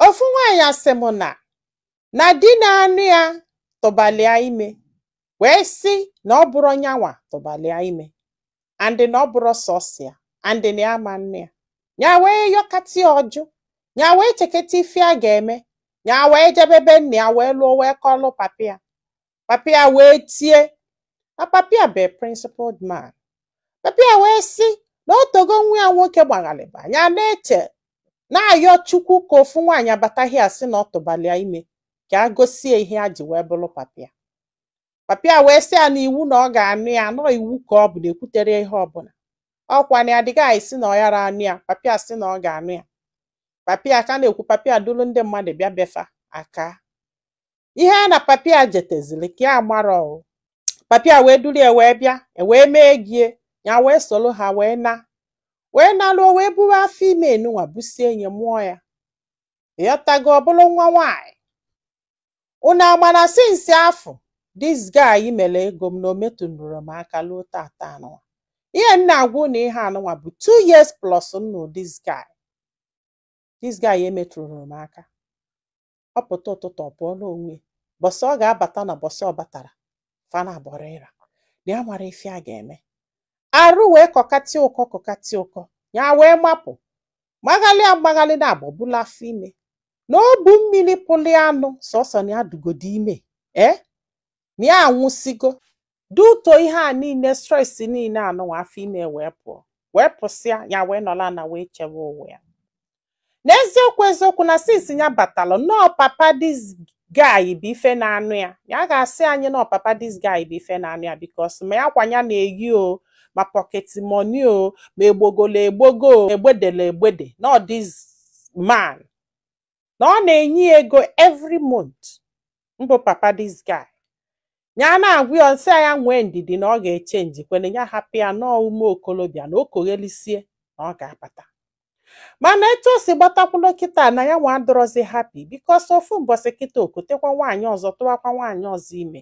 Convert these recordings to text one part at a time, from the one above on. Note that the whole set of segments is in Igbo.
ofu nwaanyị sị m na na di na-anụ ya tụbalị ya ime wee sị na ọ bụrọ nyanwa tụbalị ya ime and na ọ bụrọ sọsọ ya and na ya ama-anụ ya nya wee yọkata ya ọ jụ nya wee cheketa ife ya ga-eme nya wee jebe be nna ya wee luo wee kọlụ papa ya papa ya wee tie na papa ya bụ principled man papa ya wee sị na o togo nwa ya nwoke gbaghalịba nya na-eche na-ayọ chukwu ka ofu nwaanyị bata bịa sị na ọ tụbalị ya ime ka ya gosi ya ihe ya ji wee bụrụ papa ya papa ya wee sị ya na iwu na ọ ga-anụ ya na ọ iwu ka ọ bụ na ekwutere ihe ọbụla ọ kwa na this guy sị na ọ yara anụ ya papa ya sị na ọ ga-anụ ya papa ya ka na-ekwu papa ya duru ndị mmadụ bịa be fa aka ihe a na papa ya jetezili ka ya gbara o papa ya wee duru ya wee bịa e wee mee ego ya nya wee soro ha wee na wee naluo wee buru afọ ime anụnwa busie nya mụọ ya ịghọtago ọ bụrụ nwa nwaanyị unu ama na since afụ this guy mere ego m na o metụnụrọ m aka luo tata anụnwa ihe m na-agwa unu ihe anụnwa bụ two years plus now this guy this guy emetụrọ m aka ọ pụta ụtụtụ ọ pụọlụ onwe ya. bọsị ọ ga-abata na bọsị ọ batara fa nabọ rọ ịra na ya amarọ ife ya ga-eme arụ wee kọkata ya ụkọ kọkata ya ụkọ nya wee mapụ maghalịa maghalịa na abụ bulu afọ ime na ọ bụ mmiri pụlị ya n'ọsọsọ na ya dịgodu ime ee na ya anwụsigo due to ihe a niile stress niile anụnwa afọ ime wee pụọ wee pụsịa ya wee nọlụ ana wee chewe ụwa ya n'eziokwu eziokwu na since nya batalụ na ọ papa this guy bụ ife na-anụ ya ya ga-asị anyị na ọ papa this guy bụ ife na-anụ ya because ma akwa nya na-eyi o ma pocket money o ma egbogolo egbogo o, egbedele egbede na ọ this man na ọ na-enye ya ego every month mbụ papa this guy nya na-agwa ya nsị ya nwee ndidi na ọ ga-echenjikwenụ ya hapụ ya na ọ ume okolobịa na o koghelisie na ọ ga-abata mana etu o si gbatakwulu kịta na ya nwa adịrọzi happy because ofu mbọsị kịta o kotekwa nwaanyị ọzọ tụwakwa nwaanyị ọzọ ime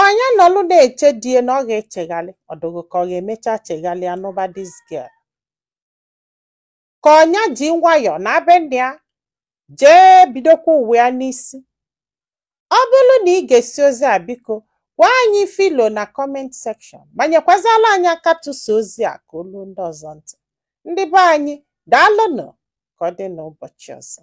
Ọ nya nọlụ na-eche di ya na ọ ga-echeghalị ọ dị gị ka ọ ga-emecha cheghalịa nụba this girl. Ka ọ nya ji nwayọọ naa be nna ya jee bidokwa ụwa ya n'isi. Ọ bụrụ na ị gesịa ozi a biko gwa anyị ife i lo na comment section ma nyekwazịalụ anyị aka tụsa ozi a ka o luo ndị ọzọ ntị. Ndị be anyị daalụnụ ka ọ dị n'ụbọchị ọzọ.